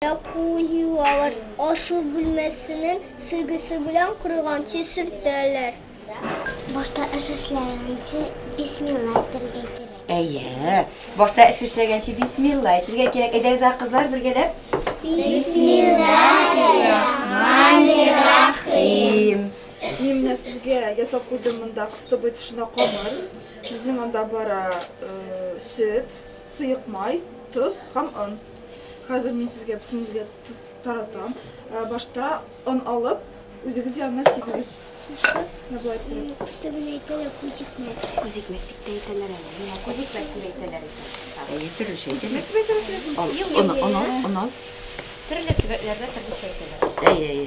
Якую алар ашу бүлмәсенең сөргесе белән корыганчы сөртәләр. Башта эш эшләгәнче бисмилла әйтергә кирәк. Әйе. Башта эш эшләгәнче бисмилла әйтергә кирәк. Әйдәгез, кызлар, бергәләп. Бисмиллахир-рахманир-рахим. Мин менә сезгә ясап куйдым монда кыстыбый тышына камыр. Безнең анда бара сөт, сыек май, тоз һәм он. Хәзер мин сезгә бөтенезгә таратам. Башта он алып, үзегез янына сибегез. Төбен әйтәләр күзикмәк. Күзикмәк дип тә әйтәләр әле. Менә күзикмәк дип әйтәләр икән. Әйе, төрлечә әйтәләр. Ал, он, он, он, он. Төрле төбәкләрдә төрлечә әйтәләр. Әйе, әйе.